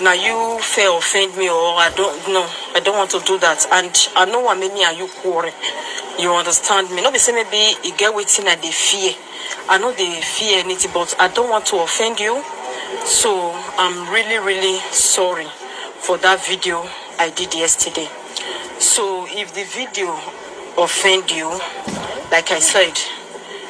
Na you fair offend me or I don no I don want to do that and I no wan make me and you quarrel you understand me no be say maybe e get wetin I dey fear I no dey fear anything but I don want to offend you so I'm really really sorry for that video I did yesterday so if the video offend you like I said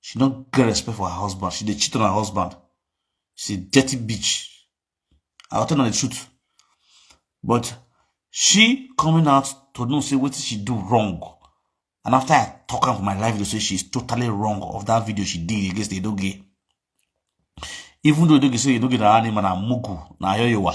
She no get respect for her husband. She dey cheat on her husband. She's a dirty bitch. I'll tell her the truth. But she coming out to know say what she do wrong. And after I talk her for my life, they say she's totally wrong of that video she did against the Edoge. Even though Edoge say Edoge na animal na mugu na yoyowa.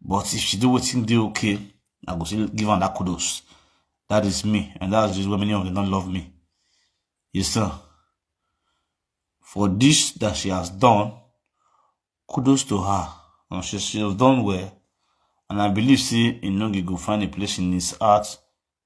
But if she do wetin dey okay, I go still give am that kudos. That is me, and that's just why many of them don't love me. You understand? For this that she has done, kudos to her. And she, she has done well. And I believe, see, in Nogi go find a place in his heart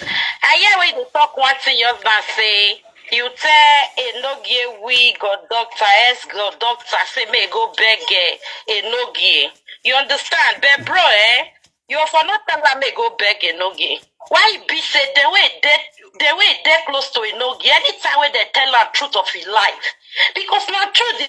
I hear when you dey talk one thing, your husband say you tell a no gear we god doctor, ex god doctor say may he go beg eh, a no gear. You understand? But bro, eh, you for not tell her may he go beg a no gear. Why it be say the way they the way they close to a no gear, anytime when they tell her truth of his life, because now truth.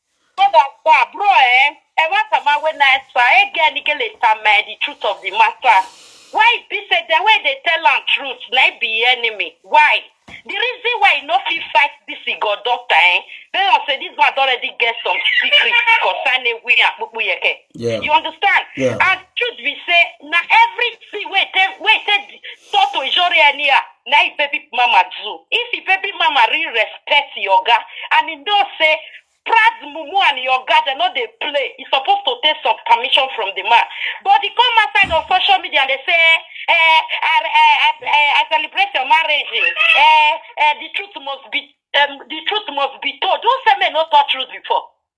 Brother, sir, bro, eh, eh, what am I when I sir, eh, get nigga later, man, the truth of the matter. Why it be said the way they tell am truth, na it be enemy? Why? The reason why you no fit fight this he got doctor, eh? They don't say this man don already get some secret concerning we and Pupu Yeke. Yeah. You understand? Yeah. And truth be say, na everything wey take wey take talk to Ijori anyhow, na im baby mama do if im baby mama really respect im oga and im know say Praz mumu and im oga dem no dey play e suppose to take some permission from the man but e come outside on social media and dey say eh, I, I, I, eh, I celebrate your marriage eh, eh, the truth must be um, the truth must be told who say men no talk truth before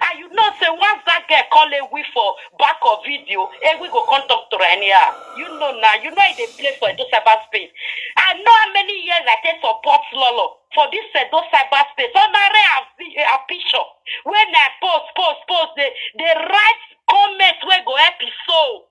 And you know, say once that girl call a we for back of video, a we go come talk to her anyhow. You know now, you know they play for Edo cyberspace. I know how many years I take support Lolo for this Edo cyberspace. On a a picture when I post, post, post, they they write comments where go help his soul.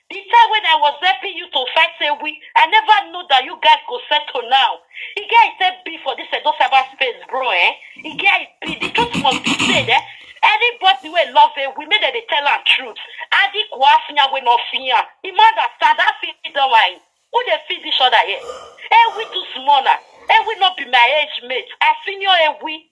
The time when I was helping you to fight say we, I never know that you guys go settle now. E get e take be for this Edo cyber space, bro, eh? E get e be, the truth must be said, eh? Anybody wey love it, we make dem dey tell am truth. Adi Kwafinya wey no fear. The man that stand, that fit don wine. Who dey feed each other here? Eh, we too small na. Eh, we no be my age mate. I senior eh, we.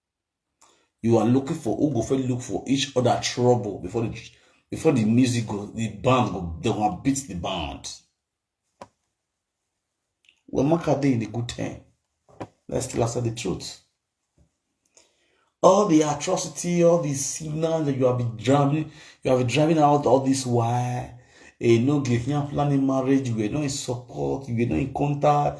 you are looking for who go fit look for each other trouble before the before the music go the band go they go beat the band well maka dey in a good time let's still accept the truth all the atrocity all the signals that you have been driving you have been driving out all this while eh no give me a planning marriage you were not in support you were not in contact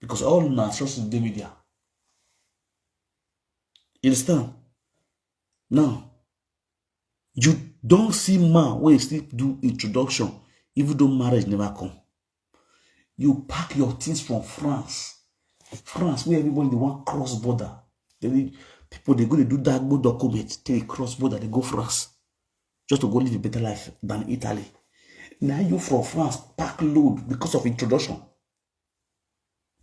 because all una sources dey media you understand now you don see man wey still do introduction even though marriage never come you pack your things from france france where everybody dey wan cross border they, people dey go dey do dagbo document till they cross border dey go france just to go live a better life than italy na you from france pack load because of introduction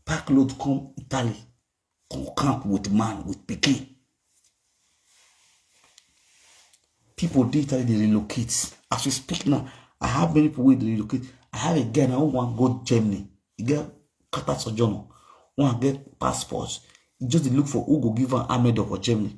pack load come Italy, come camp with man, with picking. People dey Italy, they relocate. As we speak now, I have many people where they relocate. I have a guy now who want to go Germany. He get Qatar sojourner. One get passports. He just dey look for who go give am armed for Germany.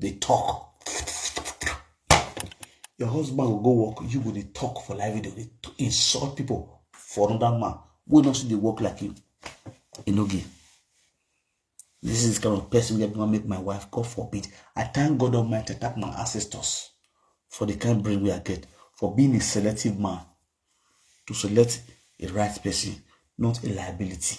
dey talk your husband go go work you go dey talk for live video dey insult people for another man wey no still dey work like you e no give this is the kind of person wey go make my wife god forbid i thank god almighty thank my ancestors for the kind brain wey i get for being a selective man to select a right person not a liability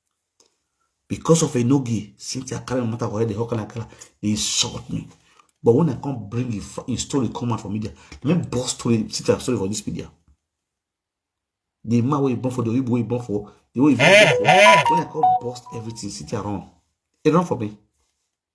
because of Enogi, since I carry matter for head, the hawk and I they insult me. But when I come bring his, his story come out for media, let me boss story, sit and story for this media. The man where you born for, the way you born for, the way you born for. When I come bust everything, sit around. It run for me.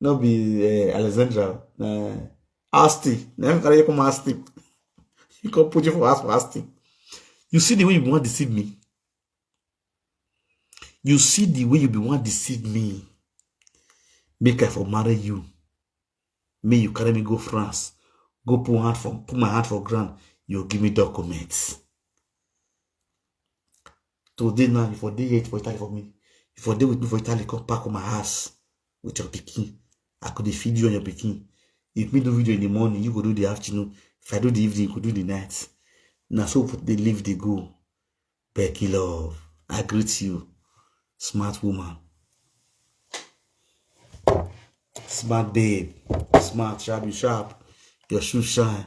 no be uh, alexandra na uh, asti na him carry you come asti he come put you for house for asti you see the way you wan deceive me you see the way you be wan deceive me make i for marry you me you carry me go france go put hand for put my hand for ground you give me documents today now you for dey here for italy for me you for dey with me for italy come pack on my house with your pikin i go dey feed you and your pikin if me do video in the morning you go do the afternoon if i do the evening you go do the night na so people dey live dey go becky love i greet you smart woman smart babe smart sharp you sharp your shoe shine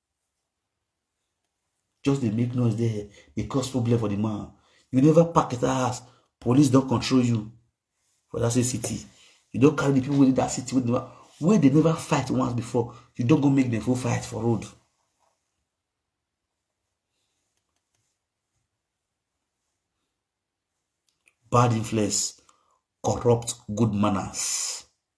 just dey make noise there dey cause problem for the man you never pack that house police don control you for that same city you don carry the people wey dey that city wey dey never wey dey never fight once before you don go make them full fight for road. bad influence corrupt good manners.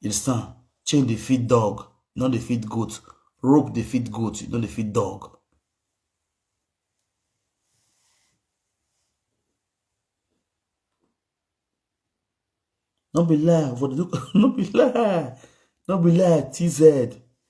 You understand? Chain dey feed dog, e no dey feed goat. Rope dey feed goat, e no dey feed dog. No be lie, for the no be lie, no be lie, TZ.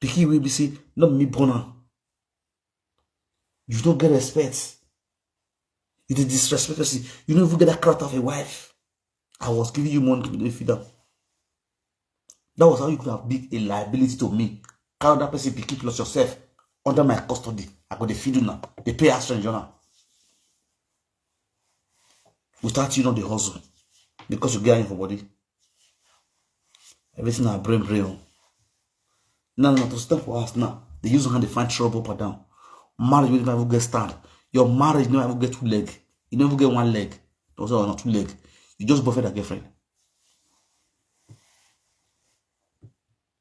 pikin wey be say no be me born am you no get respect you dey disrespect person you no even get that character of a wife i was giving you money to be feed am that was how you could have been a liability to me carry that person pikin plus yourself under my custody i go dey feed una dey pay house rent join am without you no dey hustle because you get iron for body everything na brain brain o now na to step for house now dey use hand dey find trouble up and down marriage wey never even get stand your marriage never even get two leg e never even get one leg na also na two leg you just boyfriend and girlfriend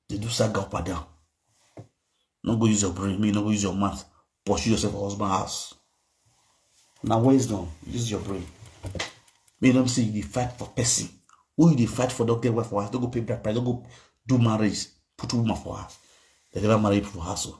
They do saga up and down. No go use your brain, me no go use your mouth. Pursue yourself for husband house. Now wisdom, use your brain. Me don't see you fight for person. Who you fight for don't get wife for house, don't go pay black price, don't go do marriage, put woman for house. They never marry for house. Oh.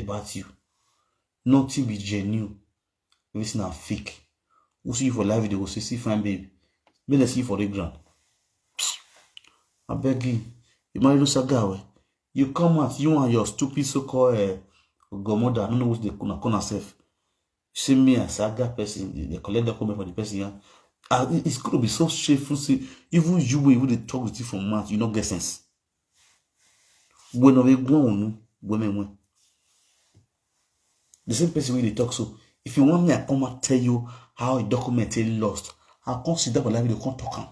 about you nothing be genuine everything na fake who see you for live video go say see fine babe make dem see you for the ground abeg you you marry no saga well you come out you and your stupid so called uh, eh, godmother i no know wetin dey call call herself see me as saga person dey collect document for the person yan ah it's gonna be so shameful say even you wey even dey talk with you for mouth you no get sense. Bueno we gwa unu, gwa me wen. The same person wey dey talk so, if you want me, I come and tell you how a document is lost. I come sit down for library, come talk am.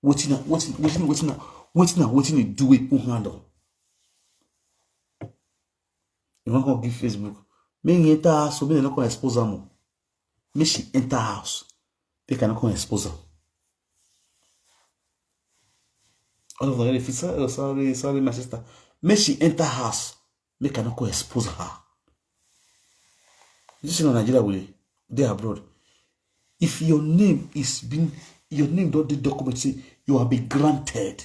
Wetin na wetin wetin wetin na wetin na wetin you do wey put hand on. You wan come give Facebook? Make you enter so make dem no come expose am o. make she enter house make i no come expose am all of them fit say oh sorry sorry my sister make she enter house make i no come expose her you see na nigeria we dey abroad if your name is being your name don dey document say you have been granted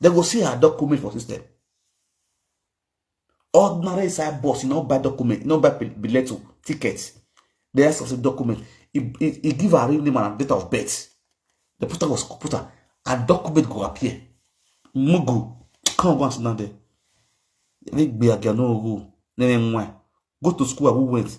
they go see her document for system ordinary inside bus you no buy document you no buy bileto oh, ticket they ask us a document he, he, he give her real name and date of birth the put her was put her and document go appear mugu come go and sit down there they gbe agano ogo nene nwa go to school awu went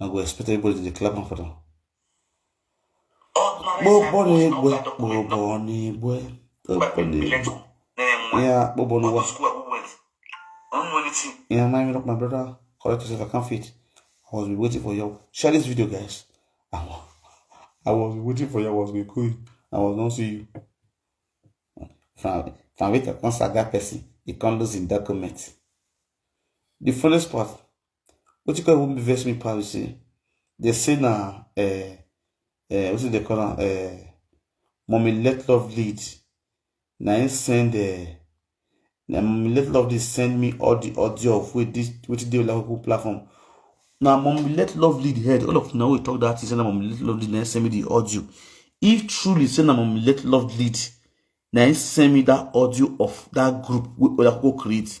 na go expect everybody to dey clap am for them. Gbogbo na egbe, gbogbo na egbe, gbogbo na egbe. Yeah, gbogbo na what? Yeah, my look, my brother, correct yourself, I can't fit. I was waiting for you. Share this video, guys. I was, I was waiting for you. I was going cool. I was not see you. From, from wait, I can't saga person. He can't lose in document. The funniest part, wetin come even vex me pass be say they say na uh, uh, wetin they call am uh, mommy let love lead na him send uh, na mommy let love lead send me all the audio of wey this wetin dey olakuku platform na mommy let love lead head all of una wey talk that thing say na mommy let love lead na him send me the audio if truly say na mommy let love lead na him send me that audio of that group wey olakuku create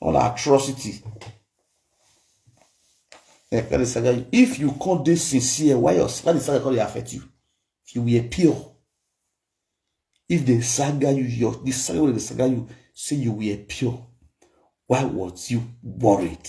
all na atrocity eh, kadi saga if you come dey sincere why your kadi saga come dey affect you if you were pure if they saga you your the saga wey dey saga you say you were pure why was you worried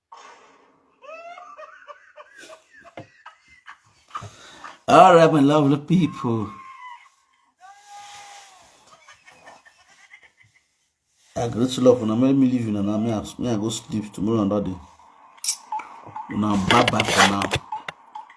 All right, my lovely people. I great love una make me leave una now. Me I, me I go sleep tomorrow another day. Una bye bye for now.